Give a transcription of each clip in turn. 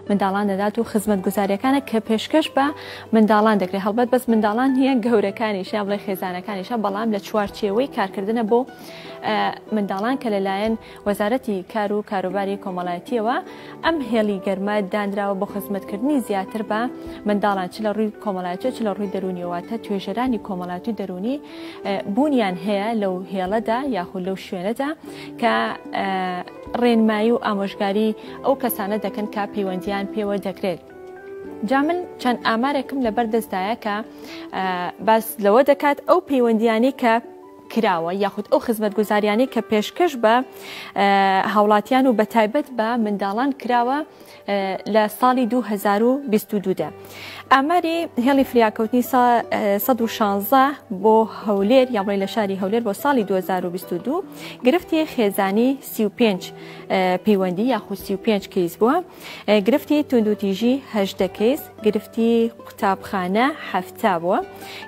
منداڵان دەدات و خزمەتگوزاریەکانە کە پێشکەش بە منداڵان دەکرێت هەڵبەت بەس منداڵان نیە گەورەکانیش یا بڵێ خێزانەکانیشە بەڵام لە چوارچێوەی کارکردنە بۆ منداڵان کە لەلایەن وەزارەتی کار و کاروباری کۆمەڵایەتیەوە ئەم هێڵی گەرمە دانراوە بۆ خزمەتکردنی زیاتر بە منداڵان چ لە ڕووی کۆمەڵایەتی چ لە ڕووی دەرونیەوەتە توێژەرانی کۆمەڵاتی دەرونی بوونیان هەیە لەو هێڵەدا یاخود لەو شوێنەدا کە ڕێنمایی و ئامۆژگاری ئەو کەسانە دەکەن کە پەیوەندیان پێوە دەکرێت. جا من چەند ئامارێکم لەبەر دەستدایە کە باس لەوە دەکات ئەو پەیوەندیانی کە کراوە یاخود ئەو خزمەتگوزاریانی کە پێشکەش بە هاوڵاتیان و بە تایبەت بە منداڵان کراوە لە ساڵی 2022دا ئاماری هێڵی فریاکەوتنی 16 بۆ هەولێر یاڵی لە شاری هەولێر بۆ ساڵی 2022 گرفتی خێزانی سی و پێنج پەیوەندی یاخود سی و پێنج کەیس بووە گرفتی توندوتیژی هەشتە کەیس گرفتی قوتابخانە هەفتا بووە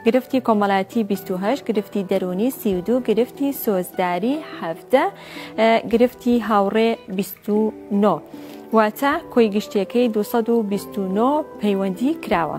گرفتی کۆمەڵایەتی 28 گرفتی دەرونی سی و دوو گرفتی سۆزداری هەفتە گرفتی هاوڕێ 29 واتە کۆی گشتیەکەی 229 پەیوەندی کراوە.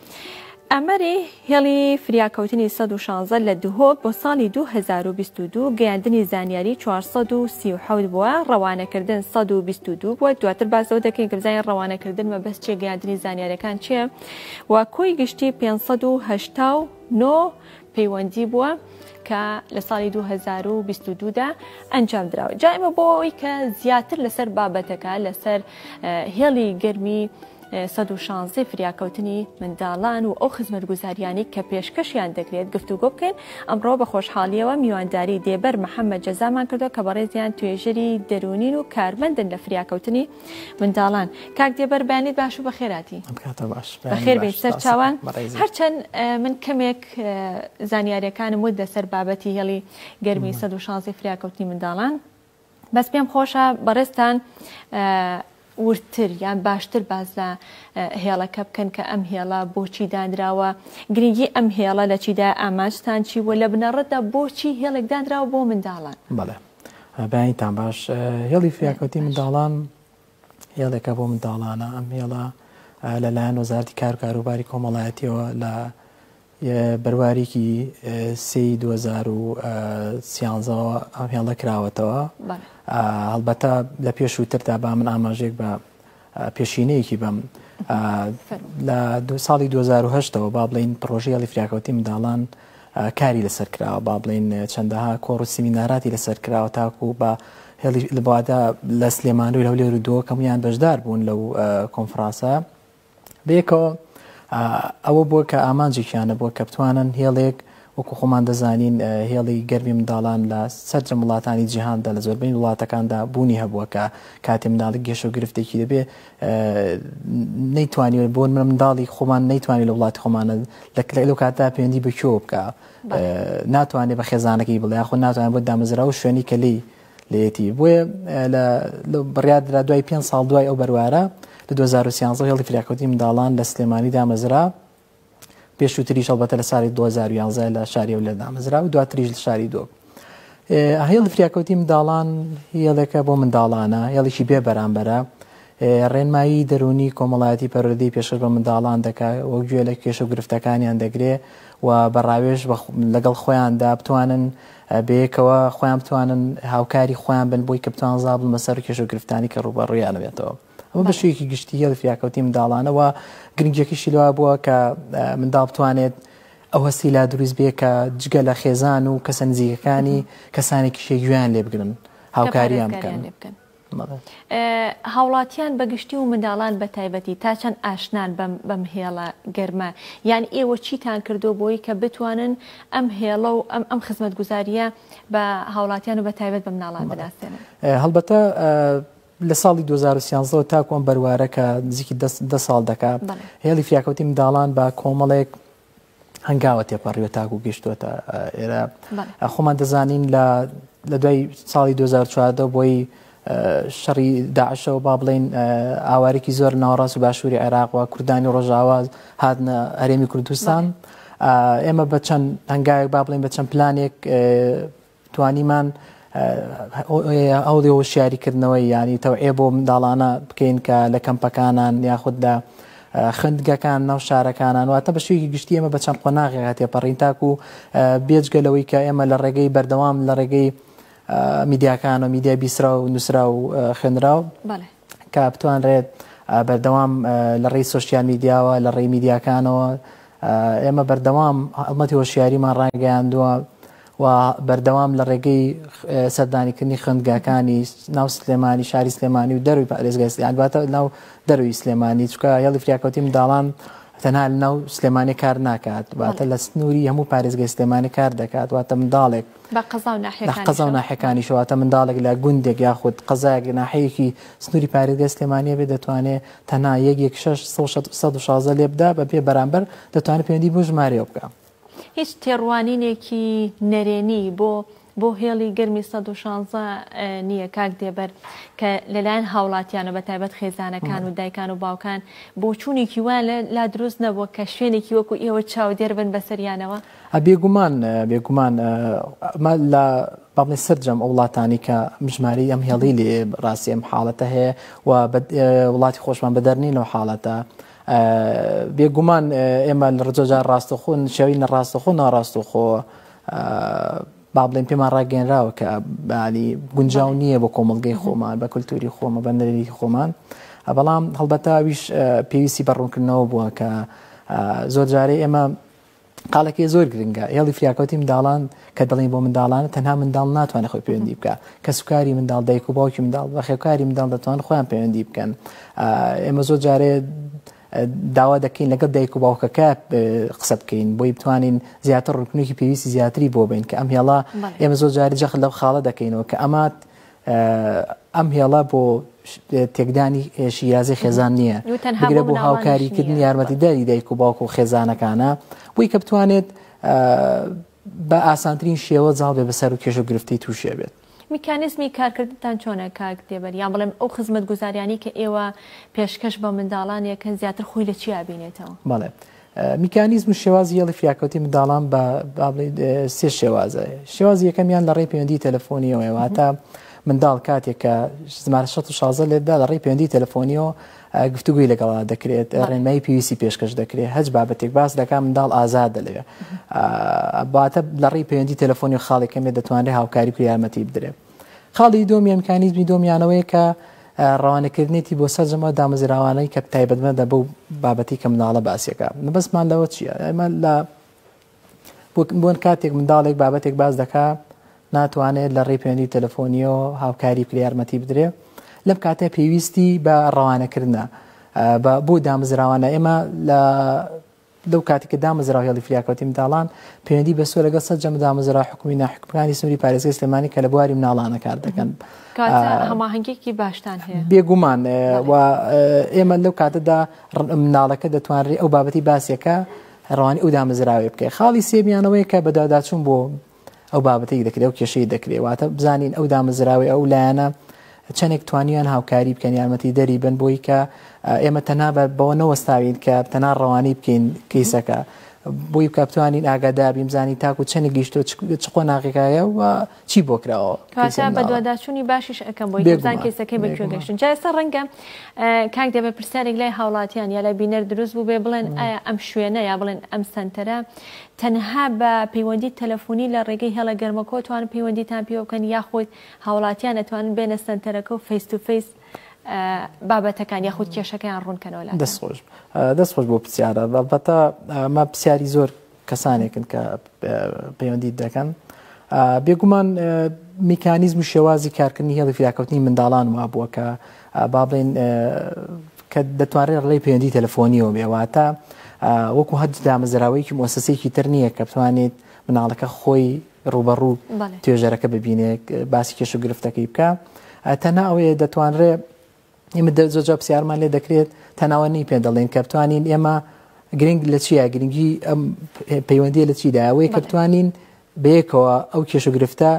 ئاماری هێڵی فریاکەوتنی سەد و شانزە لە دهۆک بۆ ساڵی دوو هەزار و بیست و دوو گەیاندنی زانیاری چوار سەد و سی و حەوت بووە، ڕەوانەکردن سەد و بیست و دوو بووە، دواتر باس لەوە دەکەین کە بزانین ڕەوانەکردن مەبەست چییە، گەیاندنی زانیارییەکان چییە و کۆی گشتی پێنج سەد و هەشتا و نۆ پەیوەندی بووە کە لە ساڵی 2022 دا ئەنجام دراوە جا ئمە بۆ ئەوی کە زیاتر لەسەر بابەتەکە لەسەر هێڵی گەرمی 16 فریاکەوتنی منداڵان و ئەو خزمەت گوزاریانی کە پێشکەشیان دەکرێت گفتوگۆ بکەین ئەمڕۆ بە خۆشحاڵیەوە میوانداری دێبەر محەممەد جەزامان کردو کە بەڕێزیان توێژەری دەرونین و کارمەندن لە فریاکەوتنی منداڵان کاک دێبەر بانیت باش و بەخێراتی بەخێربێت سەرچوان هەرچەند من کەمێک زانیارەکانم ود لەسەر بابەتی هێڵی گەرمی 16 فریاکەوتنی منداڵان بەس پێم خۆشە بەڕێستان وردتر یان باشتر باز لە هێڵەکە بکەن کە ئەم هێڵە بۆچی دانراوە گرنگی ئەم هێڵە لە چیدا ئاماجتان چی وە لە بنەڕەتدا بۆچی هێڵێک دانراوە بۆ منداڵان بەڵێ بەیانیتان باش هێڵی فریاکەوتی منداڵان هێڵێکە بۆ منداڵانە ئەم هێڵە لەلایەن وەزارتی کار کاروباری کۆمەڵایەتیەوە لە بەرواریکی سی 2013ەوە ئەم هێڵە کراوەتەوە هەڵبەتە لە پێشووتردا با من ئاماژێک بە پێشینەیەکی بەم. لە ساڵی دوو هەزار و هەشت ەوە با بڵێین پڕۆژەی هێڵی فریاکەوتنی منداڵان کاری لەسەر کراوە، با بڵێین چەندەها کۆڕ و سیمیناراتی لەسەر کراوە تاکوو بە هێڵی لە بوادە لە سلێمانی و هەولێر و دۆکەمیان بەشدار بوون لەو کۆنفرانسە بەیەکەوە. ئەوە بووە کە ئامانجێکیانە بووە کە بتوانن هێڵێک وەکو خۆمان دەزانین هێڵی گەرمی منداڵان لە سەرجەم وڵاتانی جیهاندا لە زۆربەی وڵاتەکاندا بوونی هەبووە کە کاتێ منداڵی گێشە و گرفتێکی دەبێ نەیتوانیوە بۆن من منداڵی خۆمان نەیتوانانی لە وڵاتی خۆمانە لە لەو کاتدا پەیوەندی بە کێوە بکە ناتوانێت بە خێزانەکەی بڵێ خۆ ناتوانێت بۆ دامەزرا و شوێنی کە لی لەتی بۆیە لە بڕیادرا دوای پێ ساڵ دوای ئەو بەروارە لە 2013 هێڵی فراکوتی منداڵان لە سلێمانی دامەزرا پێشووتریش هەڵبەتە لە ساڵی 2011 لە شاری و لە دامەزرا و دواتریش لە شاری دۆ هێڵی فریاکەوتی منداڵان هێڵێکە بۆ منداڵانە هێڵێکی بێ بەرامبەرە ڕێنمایی دەرونی کۆمەڵایەتی پەرۆدەی پێشتر بە منداڵان دەکات وەک گوێ لە کێش و گرفتەکانیان دەگرێ و بەڕاوێژ لەگەڵ خۆیاندا بتوانن بەیەکەوە خۆیان بتوانن هاوکاری خۆیان بن بۆی کە بتوان زابل مەسەر کێش و گرفتانی کە ڕوبەڕویانەوێتەوە ئەمە بەشێکی گشتیە لە فریاکەوتی منداڵانە و گرنگیەکەشی لەوە بووە کە منداڵ بتوانێت ئەو هەستی لا دروست بێ کە جگە لە خێزان و کەسە نزیکەکانی کەسانێکی شێگویان لێ بگرن هاوکاریان بکەن. هاوڵاتیان بەگشتی و منداڵان بە تایبەتی تا چەند ئاشنان بەم هێڵە گەرمە یان ئێوە چیتان کردو بۆی کە بتوانن ئەم هێڵە و ئەم ئەم خزمەت گوزاریە بە هاوڵاتیان و بە تایبەت بە مناڵان بەداستێنن هەڵبەتە لە ساڵی دوو هەزار و سیانزە وە تاکوو ئەم بەروارە کە نزیکی دە دە ساڵ دەکا، هێڵی فریاکەوتنی منداڵان بە کۆمەڵێک هەنگاوە تێپەڕیوە تاکوو گەیشتووەتە ئێرە. خۆمان دەزانین لە لە دوای ساڵی دوو هەزار و چواردە بۆی شەڕی داعشەوە با بڵێین ئاوارێکی زۆر ناوەڕاست و باشووری عێراق و کوردانی ڕۆژاوا هاتنە هەرێمی کوردستان ئێمە بە چەند هەنگاوێک با بڵێین بە چەند پلانێک توانیمان هەوڵی هۆشیاری کردنەوەی یانی تەوعێ بۆ منداڵانە بکەین کە لە کەمپەکانان یاخود لە خوێندگەکان ناو شارەکانان واتە بە شێوی گشتی ئمە بە چەند قۆناغێک هەتێ پەڕین تاکو بێجگە لەوەی کە ئێمە لە ڕێگەی بەردەوام لە ڕێگەی میدیاکان و میدیای بیسرا و نووسرا و خوێنرا و کە بتوانرێت بەردەوام لە ڕێی سوسیال میدیاوە لە ڕێی میدیاکانەوە ئێمە بەردەوام ئەڵمەتی هۆشیاریمان ڕاگەیاندووە و بەردەوام لە ڕێگەی سەردانیکردنی خوێندگاکانی ناو سلێمانی شاری سلێمانی و دەروی پارێزگای سلێمانی باتە ناو دەروی سلێمانی چکە هێڵی فریاکەوتی منداڵان تەنها لەناو سلێمانی کار ناکات واتە لە سنووری هەموو پارێزگای سلێمانی کار دەکات واتە منداڵێک قەزا و ناحەکانی شواتە منداڵێک لە گوندێک یاخود قەزایەک ناحەیەکی سنووری پارێزگای سلێمانە بێ دەتوانێت تەنها یەک یەک 16 لێبدا بە پێ بەرامبەر دەتوانێت پێوەندی بۆ ژمارەیە بکە هیچ تێڕوانینێکی نەرێنی بۆ بۆ هێڵی گەرمی 116 نییە کاک دێبەر کە لەلایەن هاوڵاتیانە بە تایبەت خێزانەکان و دایکان و باوکان بۆچوونێکی وان لا دروست نەبووە کە شوێنێکی وەکو ئێوە چاودێر بن بەسەریانەوە بێگومان بێگومان لە بەڵێ سەررجەم ئەو وڵاتانی کە مژماری ئەم هێڵی لێ ڕاستی ئەم حاڵەتە هەیە و وڵاتی خۆشمان بەدەرنی لەو حاڵەتە بێ گومان ئێمە لە ڕجۆجار ڕاستەخۆ نشێوی نە ڕاستەخۆ ناڕاستەخۆ با بڵێن پێمان ڕاگەێنراوە کە بەلی گونجاو نییە بۆ کۆمەلگەی خۆمان بە کولتوری خۆمە بە نەرێکی خۆمان بەڵام هەڵبەتاویش پێویستی بە ڕوونکردنەوە بووە کە زۆر جارەی ئێمە قالەکەی زۆر گرنگە هێڵی فریاکەوتی منداڵان کە دەڵین بۆ منداڵانە تەنها منداڵ ناتوانێت خۆی پەیوەندی بکە کە سوکاری منداڵ دایک و باوکی منداڵ بە خێوکاری منداڵ دەتوان خۆیان پەیوەندی بکەن ئێمە زۆر جارێ داوا دەکەین لەگەڵ دایک و باوکەکە قسە بکەین بۆی بتوانین زیاتر ڕکنێکی پێویستی زیاتری بۆ بین کە ئەم هێڵا ئێمە زۆر جاری جەخت لەو خاڵە دەکەینەوە کە ئەمات ئەم هێڵە بۆ تێکدانی شیرازی خێزان نییە بگرە بۆ هاوکاریکردن یارمەتیداری دایک و باوک و خێزانەکانە بۆی کە بتوانێت بە ئاسانترین شێوە زاڵ بێ بەسەر و کێش و گرفتی تووشێ بێت میکانزمی کارکردتان چۆنە کاک دێبەر یان بڵێم ئەو خزمەت گوزاریانی کە ئێوە پێشکەش بە منداڵانێکن زیاتر خۆی لە چیا بینێتەوە بەڵێ میکانیزم و شێوازی هێڵی فریاکەوتنی منداڵان بە با بڵێین اه، سێ شێوازە شێوازی یەکەمیان لە ڕێی پەیوەندی تەلەفۆنیەوەیە واتە منداڵ کاتێک کە ژمارە 16 لێدا لە ڕێی پەیوەندی تەلەفۆنیەوە اه، گفتوگوی لەگەڵا دەکرێت اه، ڕێنمایی پێویستی پێشکەش دەکرێت هەچ بابەتێک باس دەکات منداڵ ئازادە لەوێ اه، باتە لە ڕێی پەیوەندی تەلەفۆنی و خاڵێک کەمێ دەتوانرێت هاوکاری و یارمەتی بدرێت خاڵی دووەم یان میکانیزمی دۆمیانەوەی کە ڕوانەکردنێتی بۆ سەرجەم ئەو دامەزراوانەی کە تایبەتمەدە بەو بابەتی کە مناڵە باسیەکە مەبەستمان لەوە چیە ئەمە لە بۆن کاتێک منداڵێک بابەتێک باز دەکا ناتوانێت لە ڕێ پێوەندی تەلەفۆنیەوە هاوکاری بکرێ یارمەتی بدرێ لەم کاتە پێویستی بە ڕەوانەکردە بۆ دامزراوانە ئێمە لە لەو کاتی کە دامەزراو هێڵی فریاکەوتنی منداڵان پەیوەندی بەستووە لەگەڵ سەرجەم دامەزراوە حکومی و ناحکومیەکانی سنووری پارێزگای سلێمانی کە لە بواری منداڵانە کار دەکەن. کاتە هەماهەنگێکی باشتان هەیە بێگومان و ئێمە لەو کاتەدا مناڵەکە دەتوانرێت ئەو بابەتی باسیەکە ڕوانی ئەو دامەزراوی بکەێت خاڵی سێمیانەوەی کە بەداداچون بۆ ئەو بابەتێک دەکرێت و کێشەی دەکرێت واتە بزانین ئەو دامەزراوی ئەو لایەنە چەندێک توانیان هاوکاری بکەن یارمەتی دەری بن بۆی کە ئێمە تەنا بەوە نەوەستاوین کە تەنا ڕەوانی بکەین کەیسەکە بۆی بکە بتوانین ئاگادار بیم زانی تاکو چەنی گەیشتۆ چ قۆناغێکایە و چی بۆ کراوە بەدواداچوونی باشیش ئەەکەم بۆی بزان کەیسەکەی بە کوێ گەشتن جایستا ڕەنگە کاک دێ بە پرسیارێک لای هاوڵاتیان یا لای بینەر دروست بوو بێ بڵێن ئەم شوێنە یا بڵێن ئەم سنتەرە تەنها بە پەیوەندی تەلەفونی لە ڕێگەی هێڵە گەرمەکەوە توانن پەیوەندیتان پێوە بکەن یاخود هاوڵاتیان ئەتوانن بێنە سەنتەرەکە و فەیس تو فەیس بابەتەکان یاخود کێشەکەیان ڕوون کەنەوە لاتان. دەست خۆش دەست خۆش بۆ پرسیارە بەڵبەتە ئەمە پرسیاری زۆر کەسانێکن کە پەیوەندیت دەکەن بێگومان میکانیزم و شێوازی کارکردنی هێڵی فریاکەوتنی منداڵان وابووە کە با بڵێین کە دەتوانرێت ڕێی پەیوەندی تەلەفۆنیەوە بێ واتە وەکو هەر دامەزراوەیەکی مۆسەسێکی تر نییە کە بتوانێت مناڵەکە خۆی ڕوبەڕوو توێژەرەکە ببینێت باسی کێش و گرفتەکەی بکە تەنها ئەوەیە دەتوانرێت ئمە زۆجا پرسیارمان لێ دەکرێت تەناوەنی پێ دەڵێن کە بتوانین ئێمە گرنگ لە چیە گرنگی ئەم پەیوەندی لە چیداەوەی کە بتوانین بەیەکەوە ئەو کێش و گرفتە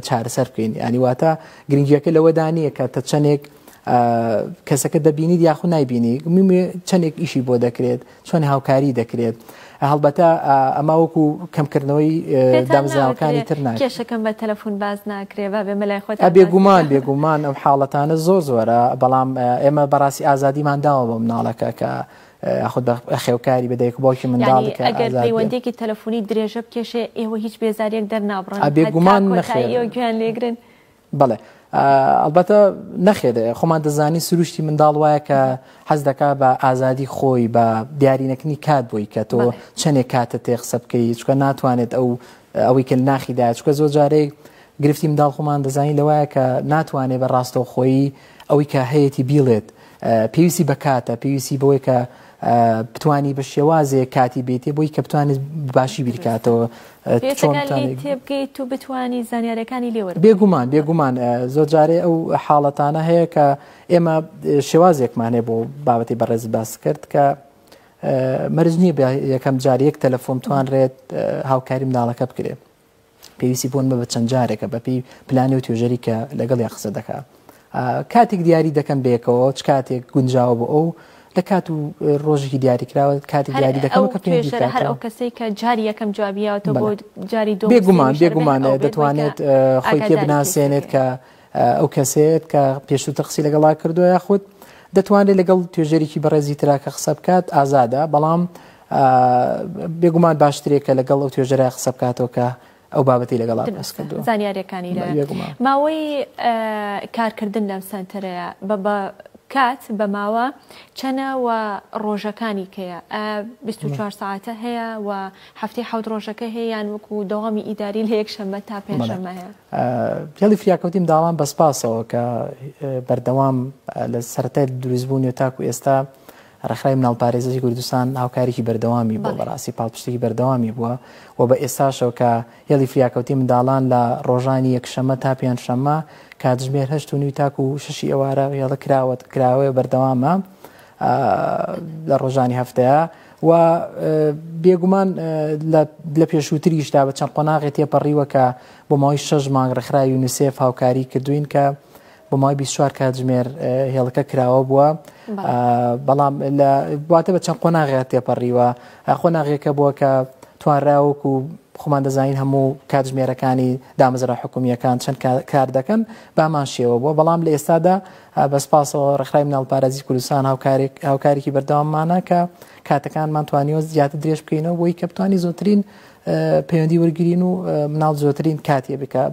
چارەسەر بکەین ینی واتە گرنگیەکە لەوەدا نییە کە تە چەندێک کەسەکە دەبینیت یاخود نایبینی چەندێک ئیشی بۆ دەکرێت چۆن هاوکاری دەکرێت هەڵبەتە ئەما وەکو کەمکردنەوەی دامزراوەکانی تر ناکێشەکەم بە تەلەفۆن باز ناکرێ بە بێ مەلای خۆت بێگومان بێگومان ئەم حاڵەتانە زۆر زۆرە بەڵام ئێمە بەڕاستی ئازادیمان داوە بە مناڵەکە کە یاخود بە خێوکاری بە دایک و باوکی منداڵێک یعنی ئەگەر پەیوەندیەکی تەلەفۆنی درێژە بکێشێ ئێوە هیچ بێزاریەک دەرنابڕن ئەبێ گومان نەخێر گوێیان لێگرن بەڵێ ئەلبەتە نەخێت خۆمان دەزانی سروشتی منداڵ وایە کە حەز دەکا بە ئازادی خۆی بە دیارینەکردنی کات بۆی کە تۆ چەندێک کاتە تێ قسە بکەی چکە ناتوانێت ئەو ئەوەی کە ناخیدا چکە زۆر جارێک گرفتی منداڵ خۆمان دەزانین لەوایە کە ناتوانێت بە ڕاستەوخۆی ئەوەی کە هەیەی بیڵێت پێویستی بە کاتە پێویستی بەوەی کە بتانی بە شێوازێ کاتی بێتێ بۆی کە بتوانێت باشی بیرکاتەوە تێبگەیت و بتانی زانیارەکانی لێوە بێگومان بێگومان زۆر جارێ ئەو حاڵەتانە هەیە کە ئێمە شێوازێکمانێ بۆ بابەتی بەڕێز باس کرد کە مەرج نییە یەکەم جار یەک تەلەفۆن توانرێت هاوکاری مناڵەکە بکرێت پێویستی بۆن بە چەند جارێکە بەپی پلانی و توێژەری کە لەگەڵیان قسە دەکا کاتێک دیاری دەکەم بێکەوە چ کاتێک گونجاوە بۆ ئەو لە کات و ڕۆژێکی دیاریکراوە کاتی دیاری دەکەم کە پێ هەر ئەو کەسێک کە جاری یەکەم جوابیەوە تۆ بۆ جاری دو بێگومان بێگومان دەتوانێت خۆی پێ بناسێنێت کە ئەو کەسێت کە پێشووتە قسی لەگەڵا کردووە یاخود دەتوانێت لەگەڵ توێژێکی بەڕێزی تراکە قسە بکات ئازادە بەڵام بێگومان باشترێک کە لەگەڵ ئەو توێژەرای قسە بکاتەوە کە ئەو بابەتی لەگەڵا باس کردو زانیارەکانی ماوەی کارکردن لەم سنتەرەیە بە بە کات بە ماوە چەنە و ڕۆژەکانی کەیە 24 ساعتە هەیە و هەفتەی حەوت ڕۆژەکە هەیەیان وەکو دەوامی ئیداری لە یەک شەممە تا پێشەمە هەیە پێڵی فریاکەوتیم داوام بەسپاسەوە کە بەردەوام لە سەرای دروستبوونی و تاکو ئێستا ڕێکخراوی مناڵپارێزی کوردستان هاوکارێکی بەردەوامی بووە، بەڕاستی پاڵپشتێکی بەردەوامی بووە و بە ئێستاشەوە کە هێڵی فریاکەوتنی منداڵان لە ڕۆژانی یەکشەممە تا پێنجشەممە کاتژمێر هەشت و نیو تاکو شەشی ئێوارە هێڵە کراوە کراوەیە بەردەوامە لە ڕۆژانی هەفتەیە و بێگومان لە پێشووتریشدا بە چەند قۆناغێ تێپەڕیوە کە بۆ ماوەی شەش مانگ ڕێکخراوی یونیسێف هاوکاری کردوین کە بۆ ماوەی 24 کاتژمێر هێڵەکە کراوە بووە بەڵام بواتە بە چەند قۆناغێت تێپەڕیوە قۆناغێکە بووە کە توانراوەک و خۆمان دەزانین هەموو کاتژمێرەکانی دامەزرا حکومیەکان چەند کار دەکەن بامان شێوە بووە بەڵام لە ئێستادا بەسپاسەوە ڕخرایم ناڵپارێزی کوردستان هاوکارێک هاوکارێکی بەردەواممانە کە کاتەکانمان توانیوە زیاتر درێژ بکەینەوە بۆی کە بتانی زۆترین پەیوەندی وەرگرین و مناڵ زۆرترین کاتیە بکە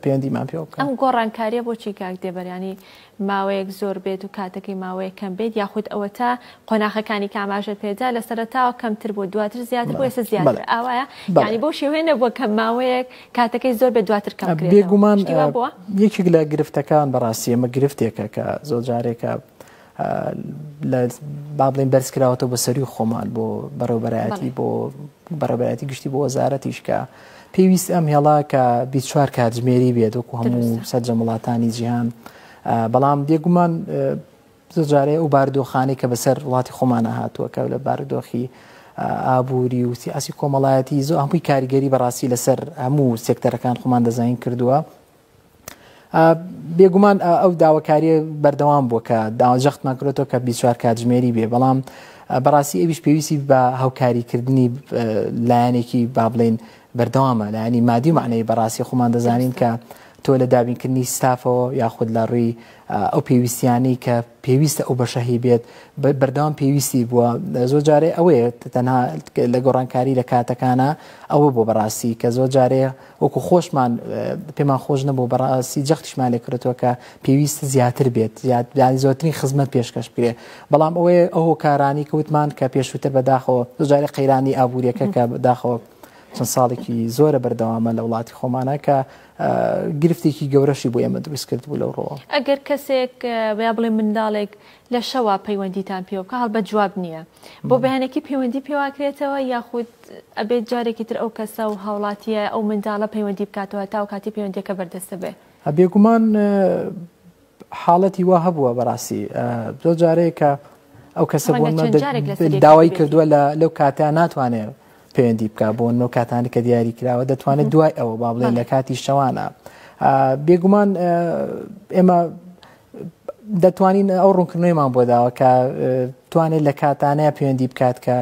پەیوەندیمان پێ بکە ئەم گۆڕانکاریە بۆچی کاک دێبەرانی ماوەیەک زۆر بێت و کاتەکەی ماوەیە کەم بێت یاخود ئەوە تا قۆناخەکانی کاماژە پێدا لە سەرتاوە کەمتر بۆ دواتر زیاتر بۆ ئێستا زیاتر ئاوایە ینی بۆ شێوێ نەبووە کە ماوەیەک کاتەکەی زۆر بێت دواتر کەم بێگومان بۆ یەکێک لە گرفتەکان بەڕاستی ئەمە گرفتێکە کە زۆر جارێکە لە با بڵێن بەرز کراوەتەوە بە سەروی خۆمان بۆ بەڕێوبەرایەتی بۆ بەڕێبەتی گشتی بۆ وەزارەتیش کە پێویست ئەم هێڵا کە بیچوار کاتژمێری بێت وەکو هەموو سەرجە وڵاتانی جیهان بەڵام بێگومان زۆجارێ ئەو باردۆخانەی کە بەسەر وڵاتی خۆمانە هاتووە کە لە باردۆخی ئابووری و سیاسی کۆمەڵایەتی زۆ هەمووی کاریگەری بەڕاستی لەسەر هەموو سێکتەرەکان خۆمان دەزانین کردووە بێگومان ئەو داواکاریە بەردەوام بووە کە داوا جەختمان کرێتەوە کە بیچوار کاتژمێری بێ بەڵام بەڕاستی ئەویش پێویستی بە هاوکاریکردنی لایەنێکی با بڵین بەردەوامە لایەنی مادی معنەی بەڕاستی خۆمان دەزانین کە تۆ لە دابینکردنی ستافەوە یاخود لە ڕووی ئەو پێویستیانەی کە پێویستە ئەو بەشەهی بێت بەردەوام پێویستی بووە زۆر جارێ ئەوەیە تەنها لە گۆڕانکاری لە کاتەکانە ئەوە بۆ بەڕاستی کە زۆر جارێ وەکو خۆشمان پێمان خۆش نەبوو بەڕاستی جەختیشمان لێ کردەوە کە پێویست زیاتر بێت زیاتدانی زۆرترین خزمەت پێشکەش بکرێ بەڵام ئەوەیە ئەو هۆکارانی کەوتمان کە پێشووتر بەداخەوە زۆجارە قەیرانی ئابوووریەکە کە بەداخەوە چەند ساڵێکی زۆرە بەردەوامە لە وڵاتی خۆمانە کە گرفتێکی گەورەشی بۆ ئێمە دروست کرد بوو لەو ڕۆوە ئەگەر کەسێک بڵێ منداڵێک لە شەوا پەیوەندیتان پێوە بکە هەڵبەت جواب نییە بۆ بەیانێکی پەیوەندی پێواکرێتەوە یاخود ئەبێت جارێکی تر ئەو کەسە و هاوڵاتیە ئەو منداڵە پەیوەندی بکاتەوە تا و کاتی پەیوەندیەکە بەردەستە بێ بێگومان حاڵەتی وا هەبووە بەڕاستی زۆر جارەیەکە ئەو کەسە داوای کردووە لە لەو کاتیان ناتوانێت پەیوەندی بک بۆ نۆ کاتانی کە دیاری کراوە دەتوانێت دوای ئەوە با بڵێن لە کاتی شەوانە بێگومان ئێمە دەتوانین ئەو ڕوونکردنەوەیمان بۆ داوە کە توانێت لە کاتانەیە پەیوەندی بکات کە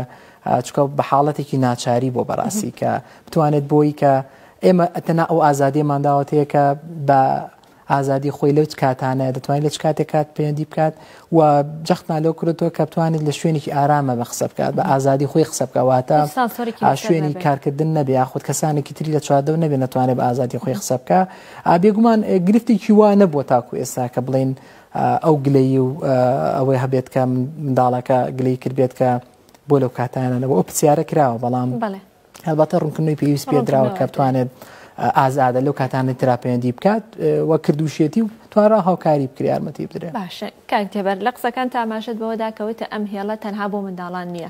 چکە بە حاڵەتێکی ناچاری بۆ بەڕاستی کە بتوانێت بۆی کە ئێمە ئەتەنا ئەو ئازادیمان داوەتەیە کە بە ئازادی خۆی لەو کاتانە دەتوانین لە چ کاتێک کات پەیوەندی بکات و جەختمان لەو کردەوە کە بتوانێت لە شوێنێکی ئارامە بە قسە بکات بە ئازادی خۆی قسە بکەواتە شوێنی کارکردن نەبێ یاخود کەسانێکی تری لە چواردەو نەبێ نتوانێت بە ئازادی خۆی قسە بکە بێگومان گرفتێکی وا نەبووە تاکو ئێستا کە بڵین ئەو گلەیی و ئەوەی هەبێت کە منداڵەکە گلەی کردبێت کە بۆ لەو کاتانەوە ئەو پرسیارە کراوە بەڵام هەڵبەتە ڕوونکردنەوەی پێویست پێ دراوە کە بتوانێت ئازادە لەو کاتانی تراپەندی بکات و کردوشێتی و توانرا هاوکاری بکری یارمەتی بدرێت باشە کاک تێبەر لە قسەکان تاماشت بەوەدا کەوتە ئەم هێڵە تەنها بۆ منداڵان نییە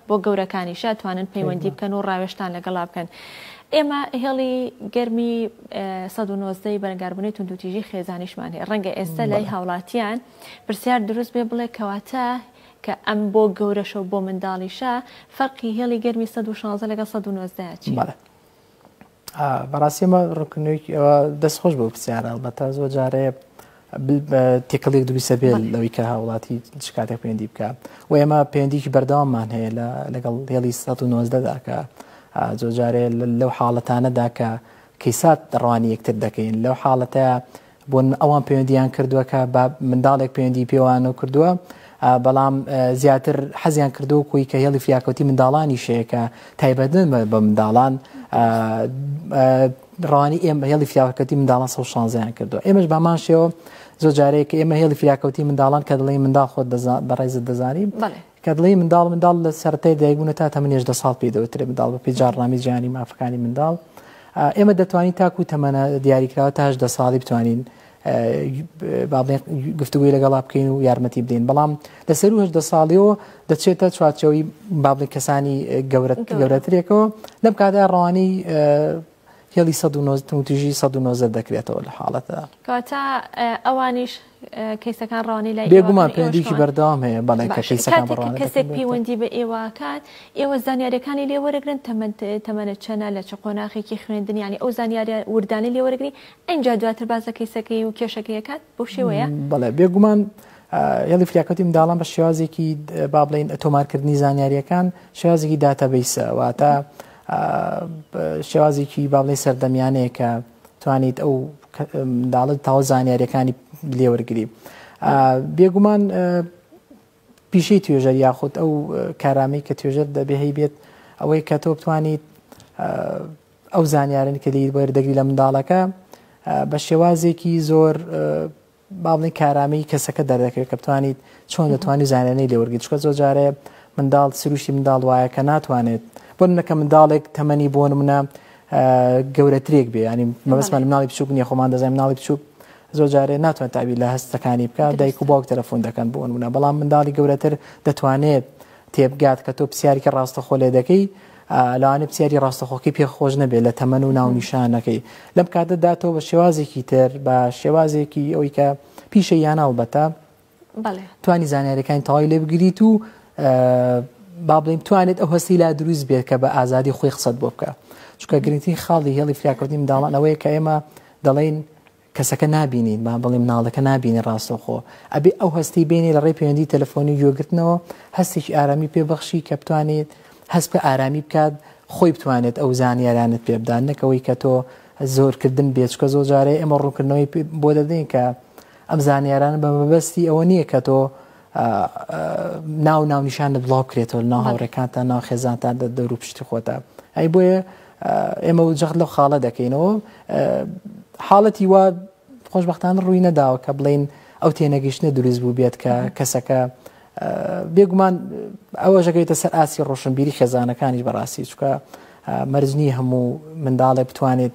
بۆ گەورەکانیش ئەتوانن پەیوەندی بکەن و ڕاوێشتان لەگەڵا بکەن ئێمە هێڵی گەرمی 1970 بەرەنگاربوونی توندوتیژی خێزانیشمان هەیە ڕەنگە ئێستا لای هاوڵاتیان پرسیار دروست بێ بڵێ کەواتە کە ئەم بۆ گەورەشە و بۆ منداڵیشە فەرقی هێڵی گەرمی 1960 لەگەڵ 1990 چی؟ بەڕاستی ئەمە ڕوونکردنەوەیەکی ئەوە دەست خۆش بەو پرسیارە هەڵبەتە زۆر جارەیە تێکەڵێک دروستە بێت لەوەی کە هاوڵاتی شکاتێک پێندی بکە و ئێمە پێندیکی بەردەواممان هەیە لە لەگەڵ هێڵی 1990دا کە زۆر جارێ لەو حاڵەتانەدا کە کەیسات ڕوانی یەکتر دەکەین لەو حاڵەتە بون ئەوان پەیوەندیان کردوە کە بە منداڵێک پەیوەندی پێوانە کردووە بەڵام زیاتر حەزیان کردو کوی کە هێڵی فیاکەوتی منداڵانی شەیەکە تایبەتن بە منداڵان ڕوانی ئێمە هێڵی فیاکەتی منداڵان سە شانزیان کردو ئێمەش بامان شێوە زۆر جارەیە کە ئێمە هێڵی فیاکەوتی منداڵان کە دڵی منداڵ خۆت بەڕێزت دەزانین کە دەڵێی منداڵ منداڵ لە سەرەتای دایکبوونە تا تەمەنی هەژدە ساڵ پێی دەوترێت منداڵ بەپێی جاڕنامەی جیهانی مافەکانی منداڵ ئێمە دەتوانین تاکو تەمەە دیاریکراوە تا هەژدە ساڵی بتوانین گفتوگوی لەگەڵا بکەین و یارمەتی بدەین بەڵام لە سەر و هەشدە ساڵیەوە دەچێتە چوارچەوەی بابلی کەسانی گەورەت گەورەترێکەوە لەم کادا ڕوانی هێڵی سەد و نۆزدە توندوتیژی سەد و نۆزدە دەکرێتەوە لە حاڵەتدا. کەواتە ئەوانیش کەیسەکان ڕەوانەی لای ئێوە بێگومان کەن، ئێوەش پەیوەندیکی کەوان. بەردەوام هەیە بەڵێ کە باشە. کەیسەکان کاتێک کە بەڕوانە کەسێک دەکەن. پەیوەندی بە ئێوە کات ئێوە زانیاریەکانی لێ وەرەگرن تەمەن تەمەنە چەنە لە چ قۆناخێکی خوێندنی یانی ئەو زانیاریە وردانەی لێ وەرەگری ئەینجا دواتر باس لە کەیسەکەی و کێشەکەی ئەکات بەو شێوەیە؟ بەڵێ بێگومان هێڵی فریاکەوتی منداڵان بە شێوازێکی با بڵین تۆمارکردنی زانیاریەکان شێوازێکی داتەبیسە واتە شێوازێکی با بڵێ سەردەمیانەیە کە توانیت ئەو منداڵت تاوە زانیاریەکانی لێوەرگری بێگومان پیشەی توێژەر یاخود ئەو کارامەی کە توێژەر دەبێ هەی بێت ئەوەی کە تۆ بتوانیت ئەو زانیارن کە لێی وەردەگری لە منداڵەکە بە شێوازێکی زۆر باڵی کارامی کەسەکە دەردەکەوێت کە بتوانیت چۆن دەتوانانی زانانی لێوەرگی چکە زۆر جارێ منداڵ سروشتی منداڵ وایە کە ناتوانێت بۆ منەکە منداڵێک تەمەنی بۆن منە گەورەترێک بێ ینی مەبستمان مناڵی بچوک نیە خۆمان دەزای مناڵی بچوک زۆر جارێ ناتوان تابی لە هەستەکانی بکە دایک و باوک تەلەفۆن دەکەن بۆن منە بەڵام منداڵی گەورەتر دەتوانێت تێبگات کە تۆ پسیارێکی ڕاستەخۆ لێ دەکەی ئا لەوانەیە پسیاری ڕاستەخۆکەی پێ خۆش نەبێت لە تەمەن و ناونیشانەکەی لەم کاتەدا تۆ بە شێوازێکی تر بە شێوازێکی ئەوی کە پیشە یان هەڵبەتە بەڵێ توانی زانیاریەکانی تەواوی لێ بگریت و ئا، با بڵێن توانێت ئەو هەستی لا دروست بێت کە بە ئازادی خۆی قسەت بۆ بکە چونکە گرنگترین خاڵی هێڵی فریاکەوتنی منداڵان ئەوەیە کە ئێمە دەڵێین کەسەکە نابینی با بڵێی مناڵەکە نابینی ڕاستەوخۆ ئەبێ ئەو هەستی بینی لە ڕێی پەیوەندی تەلەفۆنی و گوێگرتنەوە هەستێکی ئارامی پێ بەخشی کە بتوانێت هەست بکە ئارامی بکات خۆی بتوانێت ئەو زانیاریانت پێ بدات نەک ئەوەی کە تۆ زۆرکردن بێت چکە زۆر جارەی ئێمە ڕوونکردنەوەی بۆ دەدەین کە ئەم زانیارانە بە مەبەستی ئەوە نییە کە تۆ ناو و ناونیشانت بڵاو بکرێتەوە لە ناو بەڵێ. هاوڕێکانتا ناو خێزانتان دە دەور و پشتی خۆتا ئەی بۆیە ئە، ئێمە جەخت لەو خاڵە دەکەینەوە ئە، حاڵەتی وا خۆشبەختانە ڕووی نەداوە کە بڵێین ئەو تێنەگەیشتنە دروست بووبێت کە کەسەکە ئە، بێگومان ئەوەش ئەگەوێتە سەر ئاستی ڕۆشنبیری خێزانەکانیش بەڕاستی چونکە ئە، مەرج نییە هەموو منداڵێک بتوانێت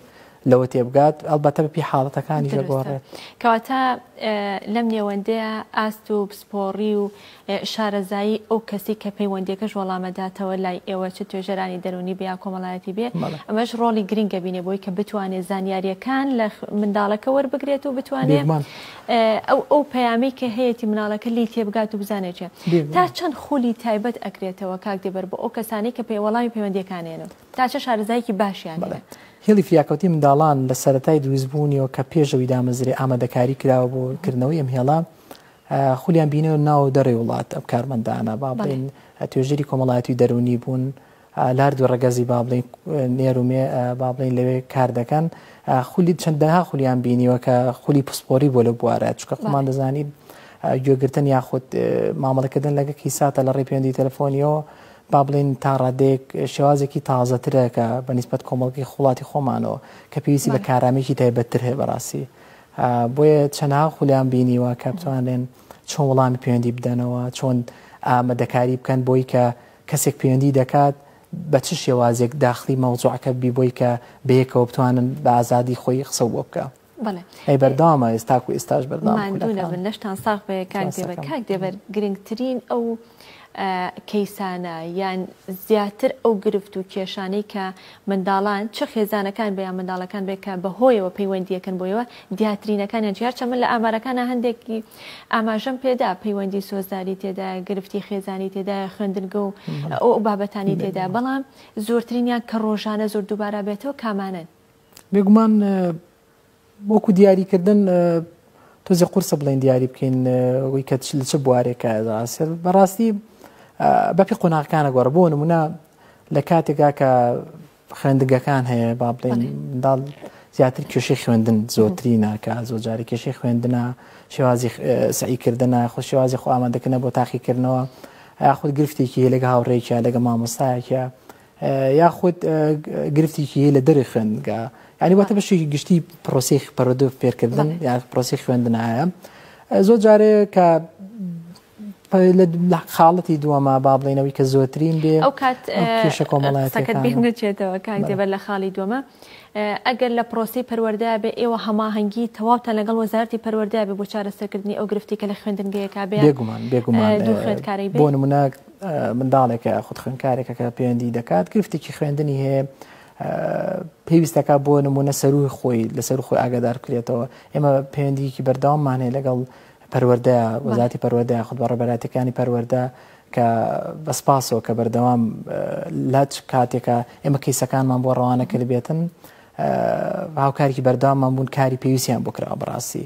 لەوە تێبگات ئەڵبەتە بەپی حاڵەتەکانیش دەگۆڕێت دروستە. کەواتە ئە، لەم نێوەندەیە ئاست و پسپۆڕی و ئە، شارەزایی ئەو کەسی کە پەیوەندییەکەش وەڵامەداتەوە لای ئێوە چ توێژەرانی دەروونی بێ یا کۆمەڵایەتی بێ بەڵێ. ئەمەش ڕۆڵی گرینگە بینێ بۆی کە بتوانێ زانیارییەکان لە خو، منداڵەکە وەربگرێت و بتوانێ بێگومان. ئە، ئەو ئەو پەیامەی کە هەیەتی مناڵەکە لێی تێبگات و بزانێ چیە. تا بێگومان. چەند خولی تایبەت ئەکرێتەوە کاک دێبەر بۆ ئەو کەسانەی کە پەی، وەڵامی پەیوەندییەکانیانەوە؟ تا چە شارەزایەکی باشیان هەیە. بەڵێ. هێڵی فریاکەوتنی منداڵان لە سەرەتای دروستبوونیەوە کە پێش ئەوی دامەزرێ ئامادەکاری کراوە بۆ کردنەوەی ئەم هێڵە، خولیان بینیوە ناو دەرێ وڵات ئەم کارمەندانە با بڵێین توێژەری کۆمەڵایەتی و دەروونی بوون، لار دوو ڕەگەزی با بڵێین نێر و مێ با بڵێین لەوێ کار دەکەن، خولی چەندەها خولیان بینیوە کە خولی پسپۆری بۆ لە بوارە چکە خۆمان دەزانین گوێگرتن یاخود مامەڵەکردن لەگە کیساتە لە ڕێ پەیوەندی تەلەفۆنیەوە با بڵێین تا ڕادەیەک شێوازێکی تازەترە کە بە نیسبەت کۆمەڵگەی خوڵاتی خۆمانەوە کە پێویستی بە کارامێکی تایبەتتر هەیە بەڕاستی بۆیە چەنها خولیان بینیوە کە بتوانێن چۆن وڵامی پەیوەندی بدەنەوە چۆن ئامادەکاری بکەن بۆی کە کەسێک پەیوەندی دەکات بە چ شێوازێک داخلی مەوزوعەکە بی بۆی کە بەیەکەوە بتوانن بە ئازادی خۆی قسە بۆ بکە ئەی بەردەوامە ئێستا تاکو ئێستاش بەردەوامە نەشتان ساغ بێ کاک دێبەر کاک دێبەر گرنگترین ئەو کەیسانە یان زیاتر ئەو گرفت و کێشانەی کە منداڵان چ خێزانەکان بە یان منداڵەکان بێ کە بەهۆیەوە پەیوەندیەکەن بۆیەوە دیاترینەکانیان جار چەمە لە ئامارەکانە هەندێکی ئاماژەم پێدا پەیوەندی سۆزداری تێدا گرفتی خێزانی تێدا خوێندنگە و ئەو بابەتانی تێدا بەڵام زۆرترینیان کە ڕۆژانە زۆر دووبارە بێتەوە کامانن بێگومان وەکو دیاری کردن تۆزێ قورسە بڵێن دیاری بکەین وی کە لە چ بوارێکە ئاسێت بەڕاستی بەپی قۆناغەکانە گۆڕە بۆ نمونە لە کاتێکا کە خوێندگەکان هەیە با بڵێن منداڵ زیاتر کێشەی خوێندن زۆتری ناکە زۆ جارە کێشەی خوێندنە شێوازی سعیکردنە خۆ شێوازی خۆ ئامادەکردە بۆ تاقیکردنەوە یاخود گرفتێکی هەیە لەگە هاوڕێکە لەگە مامۆستایەکە یاخود گرفتێکی هەیە لە دەرەوەی خوێندنگا یعنی واتە بەشێکی گشتی پرۆسی پەرۆدو فێرکردن یا پرۆسی خوێندنایە زۆر جارێ کە لە خاڵەتی دووەما با بڵێنەوەی کە زۆرترین بێ ئەو کات کێشە کۆمەڵایەتەکەت بیر نەچێتەوە کاک دێبەر لە خاڵی دووەمە ئەگەر لە پرۆسی پەروەردە بێ ئێوە هەماهەنگی تەواوتان لەگەڵ وەزارتی پەروەردە بێ بۆ چارەسەرکردنی ئەو گرفتی کە لە خوێندنگەیەکە بێ بێگومان بێگومان دوو خوێندکاری بۆ نمونە منداڵێکە یاخود خوێندکارێکە کە پەیوەندی دەکات گرفتێکی خوێندنی هەیە پێویستەکە بۆ نمونە سەروی خۆی لەسەر خۆی ئاگادار بکرێتەوە ئێمە پەیوەندیکی بەردەواممانەیە لەگەڵ پەروەەردە وەزاتی پەروەەردە خود بە ڕێبەراتەکانی پەروەەردە کە بەسپاسەوە کە بەردەوام لاچ کاتێکە ئێمە کەیسەکانمان بۆ ڕەوانە کرد بێتن هاوکارێکی بەردەواممان بوون کاری پێویستیان بکرا بەڕاستی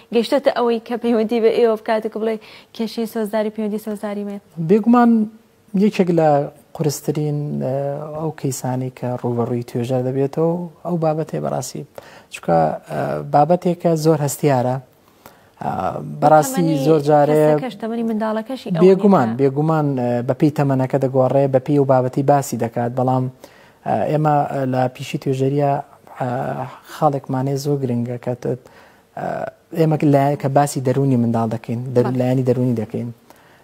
گەیشتۆتە ئەوەی کە پەیوەندی بە ئێوە بکات و بڵێ کێشەی سۆزداری پەیوەندی سۆزداری مێ؟ بێگومان یەکێک لە قورسترین ئەو کەیسانی کە ڕوبەڕووی توێژەر دەبێتەوە ئەو بابەتێ بەڕاستی چکە بابەتێکە زۆر هەستیارە بەڕاستی زۆر جارێ بێگومان بێگومان بەپی تەمەنەکە دەگۆڕێ بەپی و بابەتی باسی دەکات بەڵام ئێمە لە پیشی توێژەریە خاڵێکمانێ زۆر گرنگەکەتت ئێمە لایەکە باسی دەروونی منداڵ دەکەین لایەنی دەروونی دەکەین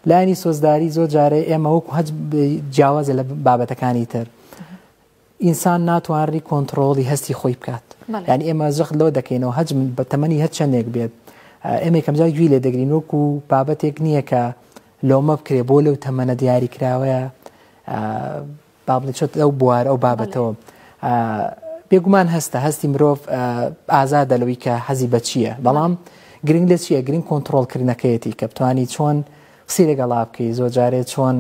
لایانی سۆزداری زۆر جارێ ئێمە وەکو هەج جیاوازە لە بابەتەکانی تر ئینسان ناتوانری کۆنتترۆڵی هەستی خۆی بکات ینی ئێمە زەخت لەوە دەکەینەوە هەج من بە تەمەنی هەر چندێک بێت ئێمە کەمجا گوی لێ دەگرین وەکو بابەتێک نییە کە لۆمە بکرێ بۆ لەو تەمەنە دیاری کراوەیە با بڵێ چۆت ئەو بوار ئەو بابەتەوە بێگومان هەستە هەستی مرۆڤ ئازادە لەوەی کە حەزی بە چییە بەڵام گرنگ لە چییە گرنگ کۆنتترۆلکردنەکەیەتی کە بتانی چۆن قسی لەگەڵا بکەی زۆر جارێ چۆن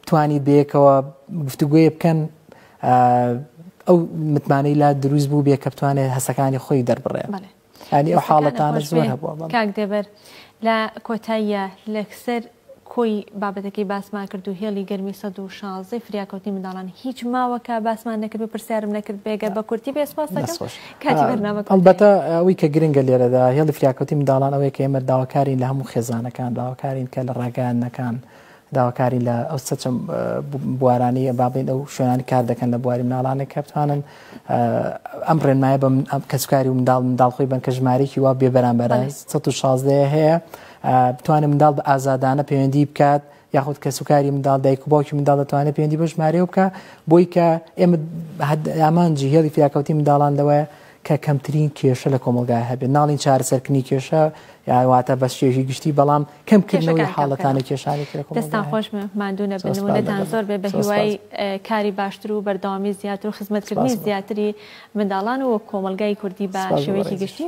توانی بێکەوە گفتوگوێ بکەن ئەو متمانەی لا دروست بوو بێ کە بتوانێت هەسەکانی خۆی دەربڕێ ینی ئەو حاڵەتانە زۆر هەبووە بەڵێ. کاک دێبەر لە کۆتاییە لەکسەر کۆی بابەتەکەی باسمان کرد و هێڵی گەرمی سەد و شازدەی فریاکەوتنی منداڵان هیچ ماوە کە باسمان نەکرد و پرسیارم نەکرد بێ گەر بە کورتی بێ سپاس دەکەم دەست خۆش کاتی بەرنامە کۆتایە. ئەڵبەتە ئەوەی کە گرنگە لێرەدا هێڵی فریاکەوتنی منداڵان ئەوەیە کە ئێمە داواکارین لە هەموو خێزانەکان داواکارین کە لە ڕاگەیاندنەکان داواکاری لە ئەو سەچە بوارانەیە با بڵێین ئەو شوێنانی کار دەکەن لە بواری مناڵانێک کە بتوانن ئەم ڕێنمایە بە کەسکاری و منداڵ منداڵخۆی بن کە ژمارێکی وا بێبەرامبەر 16 هەیە بتوانێت منداڵ بە ئازادانە پەیوەندی بکات یاخود کەس و کاری منداڵ دایک و باوکی منداڵ دەتوانێت پێوەندی بە ژمارەیە بکە بۆی کە ئێمە ئامانجی هێڵی فیاکەوتی منداڵان لەوەیە کە کەمترین کێشە لە کۆمەڵگای هەبێت ناڵین چارەسەر کنی کێشە یان واتە بەس چێژی گشتی بەڵام کەم کردنەوەی حاڵەتانە کێشانی ترە کۆمەڵگای دەستان خۆش بێ ماندوو نەبن سپاس بەردەوام ومنەتان زۆر بێ بە سپاس هیوای سپاس اه، کاری باشتر و بەردەوامی زیاتر و خزمەتکردنی سپاس بۆ زیاتری منداڵان و کۆمەڵگای کوردی بە سپاس بۆ شێوەیەکی بەڕێزیش گشتی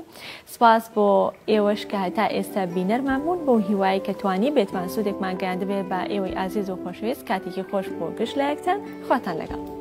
سپاس بۆ ئێوەش کە هەتا ئێستا بینەرمان بوون بەو هیوایەی کە توانیبێتمان سوودێکمان گەیاندبێ بە ئێوەی ئازیز و خۆشەویست کاتێکی خۆش بۆ گشت لایەکتان خواتان لەگەڵ.